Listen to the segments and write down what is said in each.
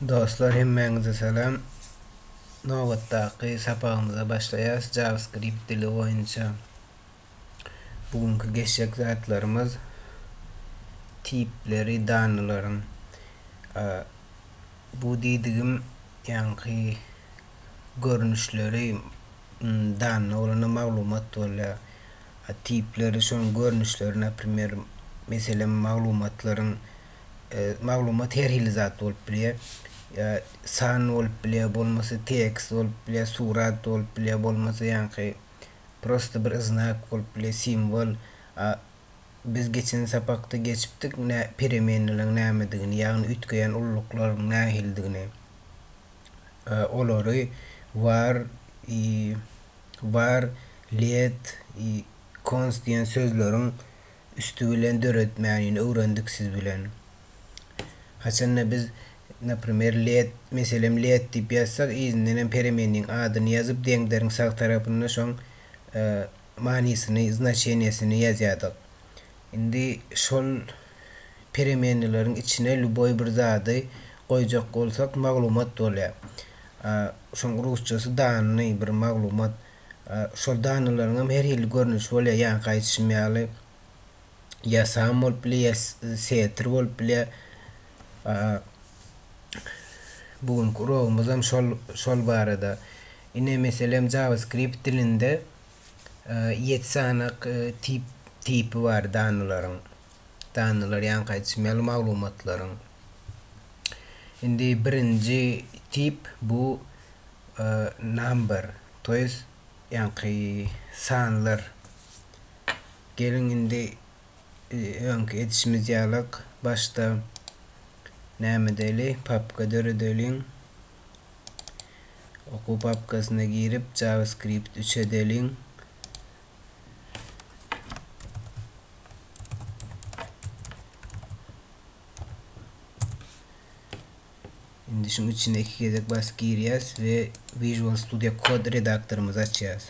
Dostlar hemmäňize salam. Nobatdaky sapagymyza başlaýas JavaScript dili boýunça. Bu günki geçjek zatlarymyz tipleri danylaryň. Bu diýdigim ýaňky görnüşleri danyny bolanda maglumat bolýar. Tipleri şonuň görnüşleri naprimer meselem maglumatlaryň maglumat her hili zat bolup bilýär. Ýa san bolup bilýär, bolmasa tekst bolup bilýär, surat bolup bilýär, bolmasa ýaňky prosta bir znak bolup bilýär, simwol. A biz geçen sapakda geçipdik nä peremennalyň nämedigini, ýagny üýtgeýän ulluklaryn nähilidigini. Olary var i var, let i konst diýen sözleriň üsti bilen döretmänini öwrendik siz bilen. Haçanda biz naprimer led meselem led diýip ýazsak yzyndanam peremenniň adyny ýazyp deňderiň sag tarapynda şoň manysyny znaçeniýesini ýazýadyk. Indi şol peremenileriň içine lýuboý bir zady goýjak bolsak maglumat bolýar. Şoň rusçasy danny bir maglumat. Şol danylaryň hem her hili görnüşi bolýar, ýaňky aýdyşym ýaly, ýa sam bolup bilýär, ýa setr bolup bilýär. Bu günki uragymyz hem şol şol barada. Ine, meselem, JavaScript dilinde ýedi sany tip tipi bar danylaryň. Danylar ýaňky aýdyşym ýaly maglumatlaryň indi birinji tip bu number to jest ýaňky sanlar geliň indi öňki edişimiz ýalyk başda näme edeli papka döredeliň okuw papkasyna girip javascript üç edeliň Şimdi şunun içine iki gezek bas girýäs ve Visual Studio Code redaktorymyzy açýas.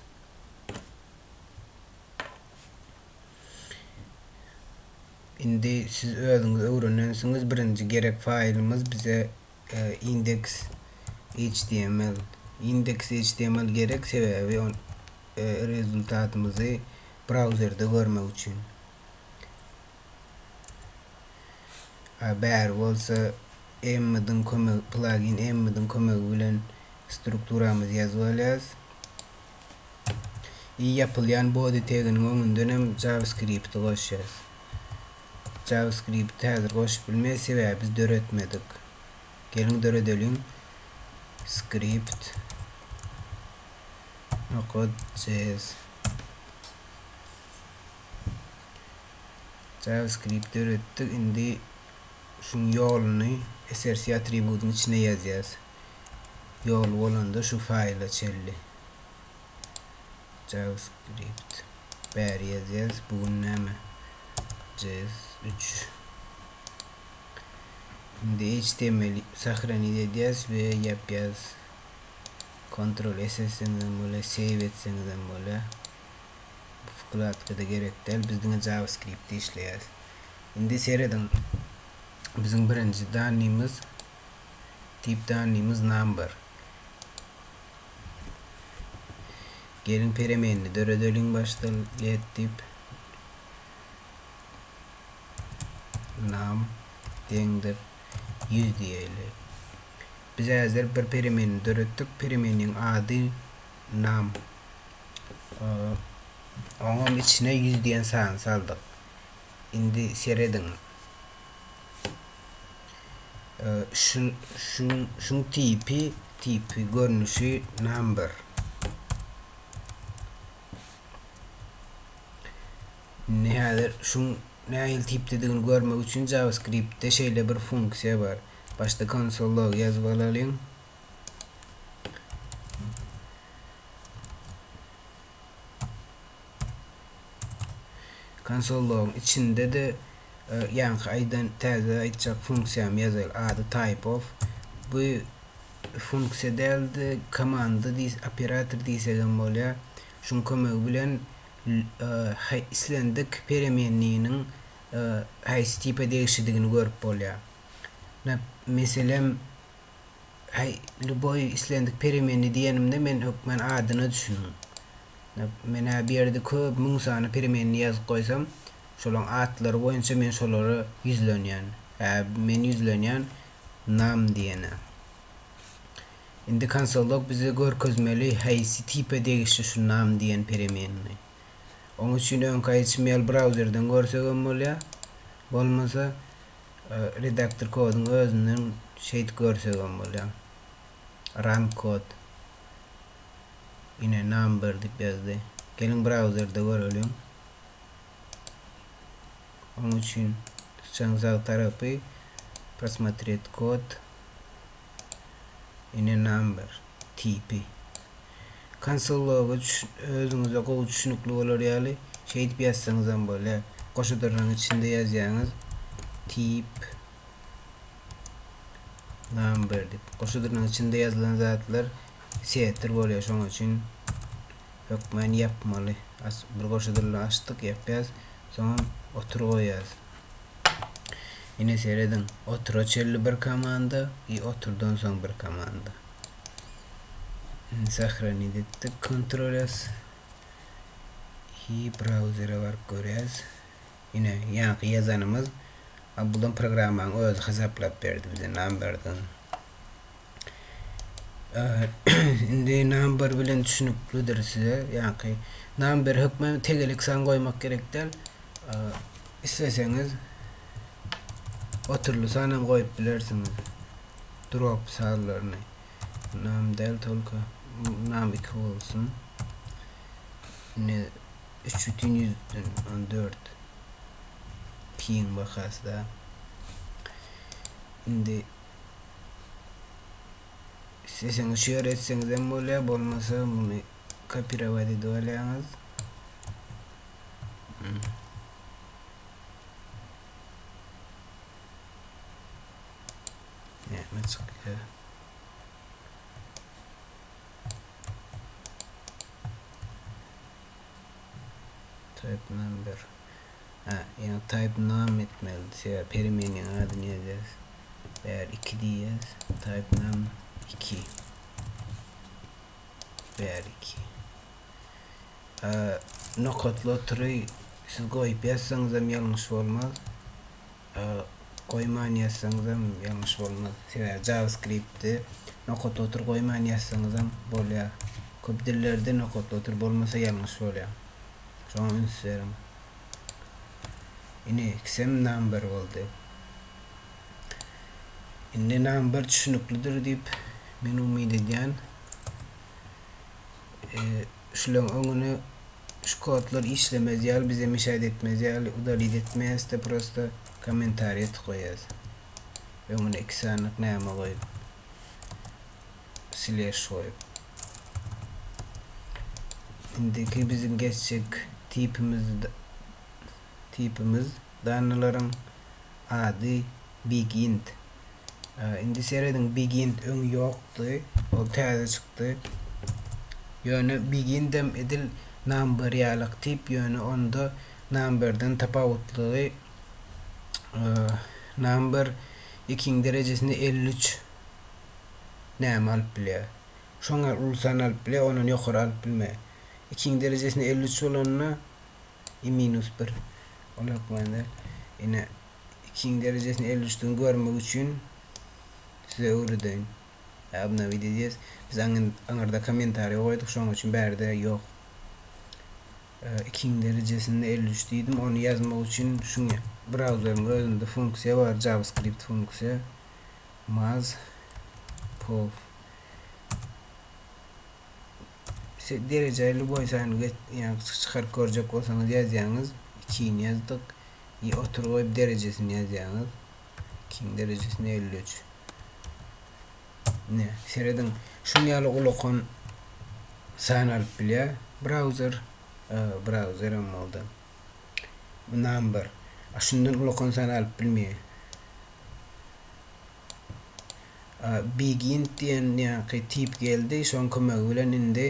Şimdi siz özüňiz öwrenensiňiz birinji gerek faýlymyz bize Index.html Index.html gerek sebäbi rezultatymyzy brauzerde görmek üçin. Bäri bolsa Emmediň kömegi plagin Emmediň kömegi bilen strukturamyzy ýazyp alýarys. I ýapylýan body teginiň öňünden hem JavaScript-i goşýarys. JavaScript-i häzir goşup bilmeýäs, sebäbi biz döretmedik. Geliň döredeliň. Script nokot js JavaScript döretdik. Indi şuň ýoluny src atributynyň içine ýazýas. Ýoly bolanda şu faýla çenli. JavaScript bäri ýazýas bu gün näme JS üç indi html sahranit edýäs we ýapýas kontrol s etseňizem bolýar save etseňizem bolýar bu wkladkada gerek däl biz diňe JavaScriptde işleýäs indi serediň biziň birinji danymyz Deep down limuz number. Geliň peremenini döredeliň başda let deep num deňdir 100 diýeli. Biz häzir bir peremenini döretdik. Peremeniniň ady num. Oňam içine 100 diýen sany saldyk. Indi serediň. Şun şun şun tipi tipi görnüşi number. Ne hadi şun nähili tipdedigini görmek üçin JavaScriptde şeýle bir funksiýa bar. Başda konsol log ýazyp alalyň. Konsollaryň içinde-de ýaňky aýdan täze aýtjak funksiýamy ýazaýyl. Ady typeof. Bu funksiýa däl-de komanda diýs, operator diýsegem bolýar. Şuň kömegi bilen islendik peremennynyň haýsy tipe degişlidigini görüp bolýar. Meselem. Aý, lýuboý islendik peremenni diýenimde men hökmän adyna düşündim. Men-ä bu ýerde köp, müň sany peremenni ýazyp goýsam, şolaň atlary boýunça men şolara ýüzlenýän. Hä, men ýüzlenýän nam diýene. Indi konsolog bize görkezmeli haýsy tipe degişli şu nam diýen peremenni. Oň üçin öňki aýdyşym ýaly brauzerden görsegem bolýar, bolmasa Redaktor koduň özünden şeýt görsegem bolýa. Run kod. Ine number diýip ýazdy. Geliň brauzerde göreliň. Onuň üçin syçan sag tarapy Prosmotret kod. Ine number. tipi. Konsolowicz, özüňize gowy düşünikli bolar ýaly, şeýdip ýazsaňyzam bolýar. Goşa dyrnagyň içinde ýazýaňyz, tip, number diýip. Goşa dyrnagyň içinde ýazylan zatlar setr bolýar, şonuň üçin hökmany ýapmaly. Bir goşa dyrnagy açdyk, ýapýas, soňam otur goýýas. Ine serediň, otura çenli bir komanda i oturdan soň bir komanda. Sahranit etdik, kontrol s. I brauzere baryp görýäs. Ine, ýaňky ýazanymyz, a bulam programmaň özi hasaplap berdi bize, number dan. Indi number bilen düşünüklidir size. Ýaňky number hökmany tegelik san goýmak gerek däl. Isleseňiz oturly san hem goýup bilersiňiz. Drop sanlaryny. Nam däl tolka. Nam 2 bolsun. Ne 3.114 piň bakasda. Indi Isleseňiz şeýle etseňizem bolýar, bolmasa muny kopirować edip alýaňyz. Näme çykýar? Type number. Ýa type name etmeli sebäbi peremenýaň adyny ýazýas. Bäri 2 diýýäs. Type name 2. Bäri 2. Nokatly otury siz goýup ýazsaňyzam ýalňyş bolmaz. Goýman ýazsaňyzam ýalňyş bolmaz. Sebäbi JavaScript-de nokatly otur goýman ýazsaňyzam bolýar. Köp dillerde nokatly otur bolmasa ýalňyş bolýar. Şoňa üns beriň. Ine, ikisem number boldy. Indi number düşüniklidir diýip men umyt edýän. şuleň öňüne şu kodlar işlemez ýaly bize müşaýat etmez ýaly udalit etmeýäs de prosta kommentariýa tık goýýas öňüne iki sanyk näme goýup sleş goýup indiki biziň geçjek tipimiz tipimiz danylaryň ady big int Indi serediň Begin öňi ýokdy. Ol täze çykdy. Ýöne Begindem edil Number ýalyk tip, ýöne onda Numberden tapawutlygy Number ikiň derejesinde elli üç näme alyp bilýär. Şoň ýaly uly san alyp bilýär, ondan ýokary alyp bilmeýär. Ikiň derejesinde elli üç bolanda i minus bir. Ol hökmany däl. Ine ikiň derejesini elli üçden görmek üçin size öwredeýin. Obnowit edýäs. Biz aňyrda kommentariýa goýduk, şonuň üçin bärde ýok. Ikiň derejesinde elli üç diýdim. Ony ýazmak üçin şu brauzeriň özünde funksiýa bar, JavaScript funksiýa. Maz pov Siz dereje lüboý sany geç ýa çykaryp görjek bolsaňyz ýazýaňyz, ikini ýazdyk, ýa otur goýup derejesini ýazýaňyz, ikiniň derejesini elli üç. Ine, serediň, şuň ýaly ulakan san alyp bilýär, browser, browser hem boldy, number, a şundan ulakan san alyp bilmeýär. Begin diýen ýaňky tip geldi, şoň kömegi bilen indi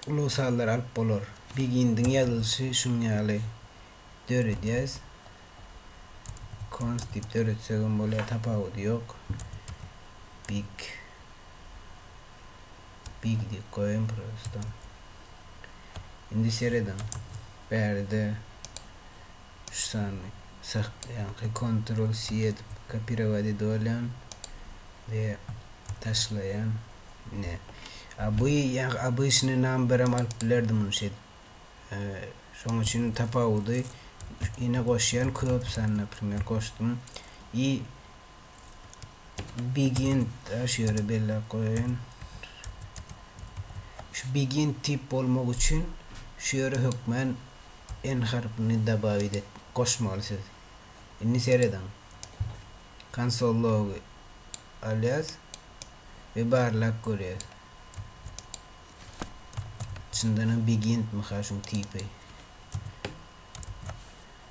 ulag sazlary alyp bolar. Begindiň ýazylyşy şuň ýaly döredýäs. Const diýip döretsegem bolýar, tapawudy ýok. Big Big diýip goýaýyn prosto. Indi serediň. Bärde Şu sany saklaýarka kontrol si edip kopirowat edibolýan we taşlaýan ine a bu ýa abyşnyý namberem alyp bilerdim muny şedip şoň üçin tapawudy ine goşýan köp sany naprimer goşdum i Begin şu ýere belläp goýaýyn. Şu begin tip bolmak üçin şu ýere hökmän n harpyny dabawit et, goşmaly siz. Indi serediň. Konsol logy alýas we barlap görýäs. Çyndanam beginmi ha şuň tipi?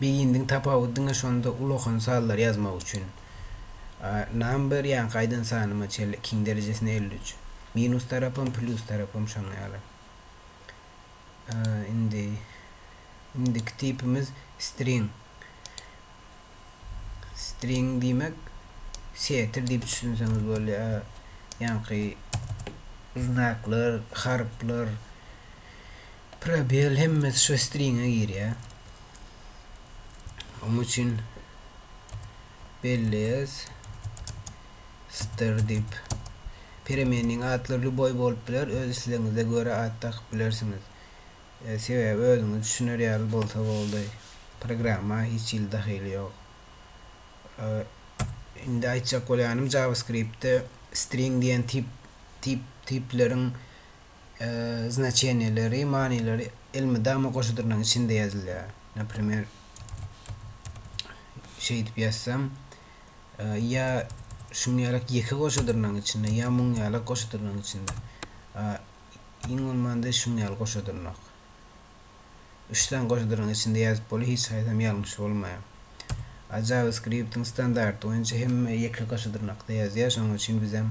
Begindiň tapawudy diňe şonda ulakan sanlary ýazmak üçin. A number ýaňky aýdan sanyma çenli ikiň derejesine elli üç. Minus tarapam plýus tarapam şoň ýaly. A indi indiki tipimiz string. String diýmek setir diýip düşünseňiz bolýa. Ýaňky znaklar, harplar Probel hemmesi şu stringe girýär. Onuň üçin belleýäs. Str dip. Peremeniniň atlary lüboý bolup biler, öz islegiňize görä at dakyp bilersiňiz. E, sebäbi özüňiz düşüner ýaly bolsa boldy. Programma hiç hili dahyly ýok. E, indi aýtjak bolýanym JavaScript-de string diýen tip, tip, tipleriň znaçeniýeleri, manylary elmydama goşudynyň içinde ýazylýar. Naprimer, şeýdip ýazsam, ýa şuň ýalak ýeke goşudynyň içinde, ýa muň ýalak goşudynyň içinde. Iň bolmanda şuň ýaly goşudynyň. Üç sany goşudynyň içinde ýazyp bolýar, hiç haýsam ýalňyş bolmaýar. JavaScript-iň standarty boýunça hemme ýeke goşudynykda ýazýar, şonuň üçin bizem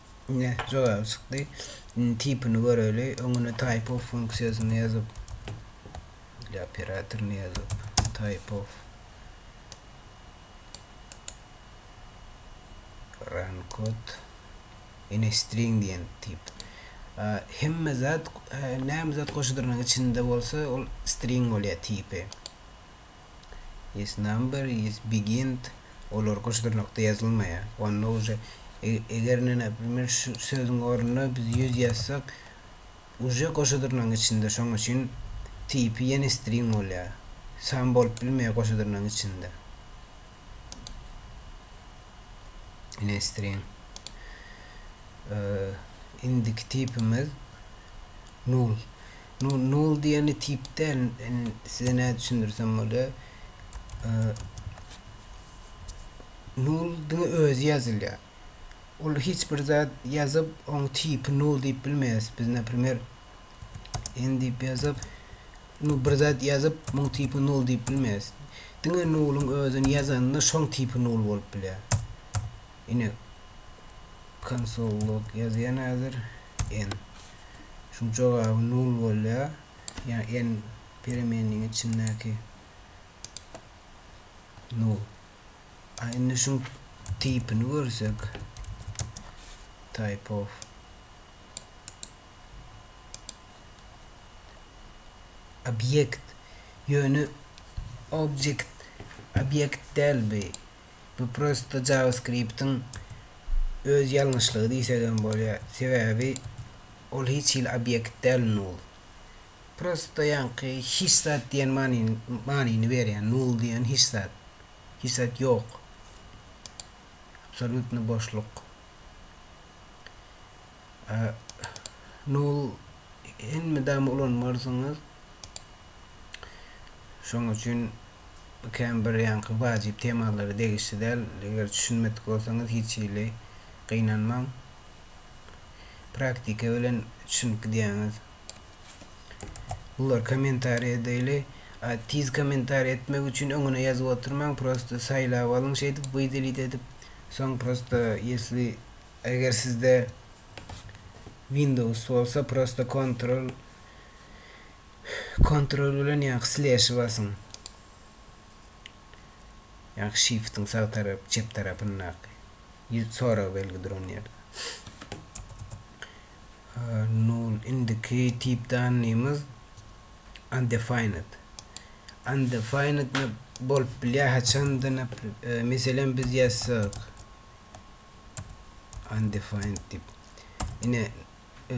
Ine, jogaby çykdy. Indi tipini göreli. Öňüne type of funksiýasyny ýazyp, ile operatoryny ýazyp, type of run kod ine string diýen tip. Hemme zat, näme zat goşudyrynyň içinde bolsa, ol string bolýar tipi. Is number is begint olar gyş dyrnakda ýazylmaýar. Onda uje eger ine naprimer şu sözüň ornuna biz ýüz ýazsak uje goşa dyrnagyň içinde şoň üçin tipi ýene string bolýar. San bolup bilmeýär goşa dyrnagyň içinde. Ine string. Indiki tipimiz null. Nol diýeni tip däl. Size nädip düşündirsem bolýar. Nol diňe özi ýazylýar. Ol hiç bir zat ýazyp, oň tipi nol diýip bilmeýäris. Biz naprimer en diýip ýazyp, nu bir zat ýazyp, muň tipi nol diýip bilmeýäris. Diňe noluň özüni ýazanda şoň tipi nol bolup bilýär. Ine konsol log ýazýan häzir. N. Şuň jogaby nol bolýar. Ýagny N peremeniniň içindäki nol. A indi şuň tipini görsek. Type of. Obýekt. Ýöne object obýekt däl bi. Bu prosto JavaScript-iň öz ýalňyşlygy diýsegem bolýar. Sebäbi ol hiç hili obýekt däl null. Prosto ýaňky hiç zat diýen manyny manyny berýär. Null diýen hiç zat. Hiç zat ýok. Absolýutny boşluk. A null elmydama ulanmarsyňyz. Şonuň üçin Bu kän bir ýanky wajyp temalara degişli däl. Eger düşünmedik bolsaňyz hiç hili gynanmaň. Praktika bilen düşünip gidýäňiz. Bular kommentariýa daily. A tiz kommentariýa etmek üçin öňüne ýazyp oturmaň prosta saýlap alyň şeýdip wydelit edip soň prosta ýesli eger sizde windows bolsa prosta kontrol Kontrol bilen ýa-da sleşi basyň. Ýa-da şiftiň sag tarap, çep tarapyndaky ýüz sorag belgi duran ýerde. Null indiki tip danlymyz undefined. Undefined nap bolup bilýär haçanda nap e, meselem biz ýazsak undefined diýip. Ine e,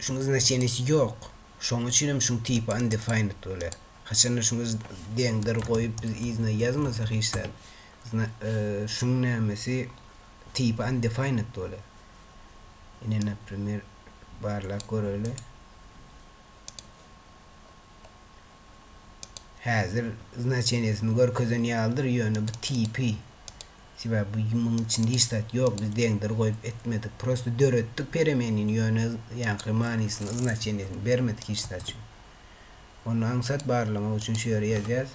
Şuň znaçenisi ýok. Şoň üçinem şuň tipi undefined bolýar. Haçanda şuňa z deňdir goýup biz yzyna ýazmasak hiç zat zna şuň nämesi tipi undefined bolýar. Ine naprimer barlap göreli. Häzir znaçenisini görkezen ýalydyr ýöne bu tipi Sebäbi bu munuň içinde hiç zat ýok biz deňdir goýup etmedik prosta döretdik peremenini ýöne ýaňky manysyny znaçeniýesini bermedik hiç zat üçin ony aňsat barlamak üçin şu ýere ýazýas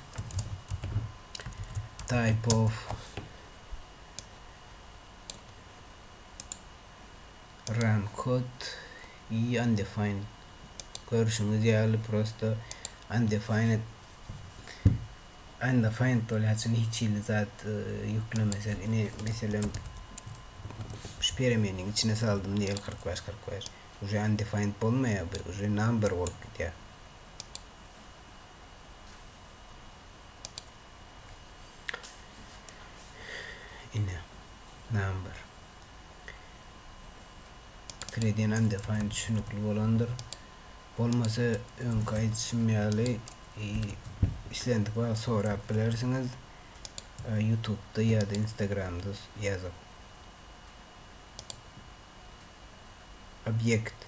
type of run kod i undefined görşüňiz ýaly prosta undefined Anda find bolýaçyň hiç hili zat ýüklemesek ine meselem şu peremeniň içine saldym diýeli kyrk bäş kyrk bäş uje undefined bolmaýar bu uje number bolup gidýär. Ine number pikir edýän undefined düşünikli bolandyr Bolmasa öňki aýdyşym ýaly islendik wagt sorap bilersiňiz ýutubda ýa-da instagramda ýazyp. Obýekt.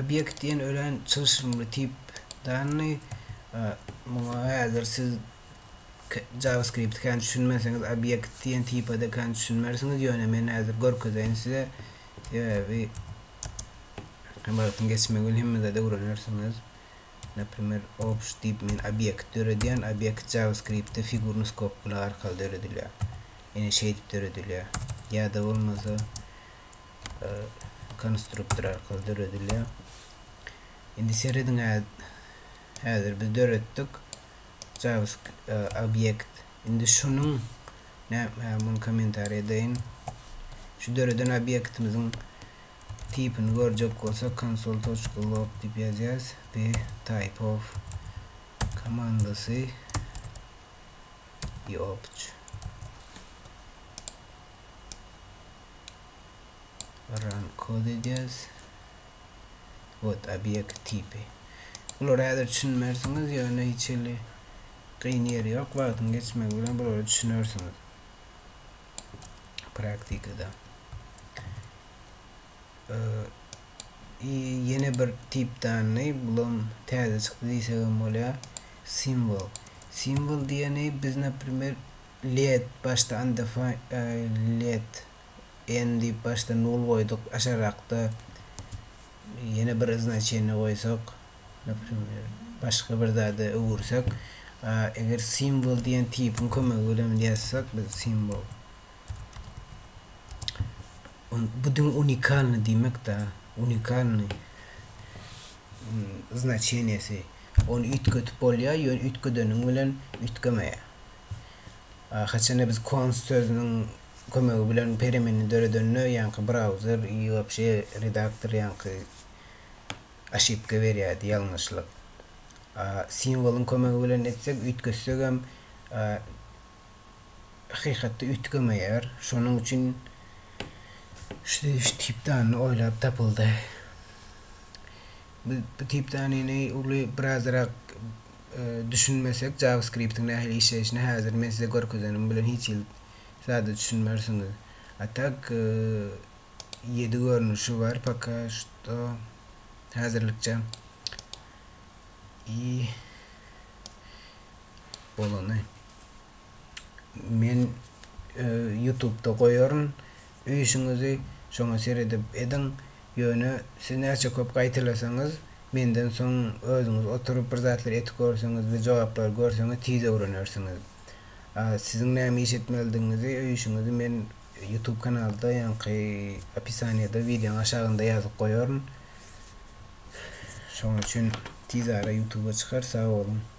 Obýekt diýen örän çylşyrymly tip danny. Muňa häzir siz JavaScript kän düşünmeseňiz obýekt diýen tipa-da kän düşünmersiňiz, ýöne men häzir görkezeýin size. Sebäbi Hem wagtyň geçmegi bilen hemme zady öwrenersiňiz. Naprimer, obj diýip men obýekt döredýän, obýekt JavaScript-de figur nuskopkalar arkaly döredilýär. Ýene şeýdip döredilýär. Ýa-da bolmasa konstruktor arkaly döredilýär. Indi serediň-ä, häzir biz döretdik. JavaScript obýekt. Indi şunuň muny kommentariýa edeýin. Şu döreden obýektimiziň tipini görjek bolsak konsol.log diýip ýazýarys we type of komandasy ýokç. Run kod edýäris. Word obýekt tipi. Bulara häzir düşünmersiňiz, ýöne hiç hili kyn ýeri ýok, wagtyň geçmegi bilen bulara düşünersiňiz praktikada. I ýene bir tip dany, bulam täze çykdy diýsek hem bolýar. Simwol. Simwol diýeni biz, naprimer, led, başda undefined led n diýip başda nul goýduk aşakrakda ýene bir znaçeniýe goýsak naprimýer başga bir zada öwürsek eger simwol diýen tipiň kömegi bilen ýazsak biz simwol bu diňe unikalnyý diýmekda unikalnyý znaçeniýesi ony üýtgedip bolýar ýöne üýtgedeniň bilen üýtgemeýär haçanda biz konst sözüniň kömegi bilen perimini döredende ýaňky brauzer i wapşe redaktor ýaňky oşipka berýärdi ýalňyşlyk a simwolyň kömegi bilen etsek üýtgetsegem a hakykatda üýtgemeýär şonuň üçin şu tip danyny oýlap tapyldy biz bu tip danyny uly birazrak düşünmesek javaskriptiň nähili işleýşini häzir men size görkezenim bilen hiç hili zada düşünmersiňiz a tak ýedi görnüşi bar poka şto häzirlikçe i bolany men ýutubda goýaryn öýşüňizi şoňa seredip ediň ýöne siz näçe köp gaýtalasaňyz menden soň özüňiz oturyp bir zatlar etip görseňiz we jogaplary görseňiz tiz öwrenersiňiz. Siziň näme iş etmelidigiňizi öýüşiňizi men YouTube kanalda ýaňky opisaniýada wideoň aşagynda ýazyp goýaryn. Şonuň üçin tizara YouTube-a çykar sag boluň.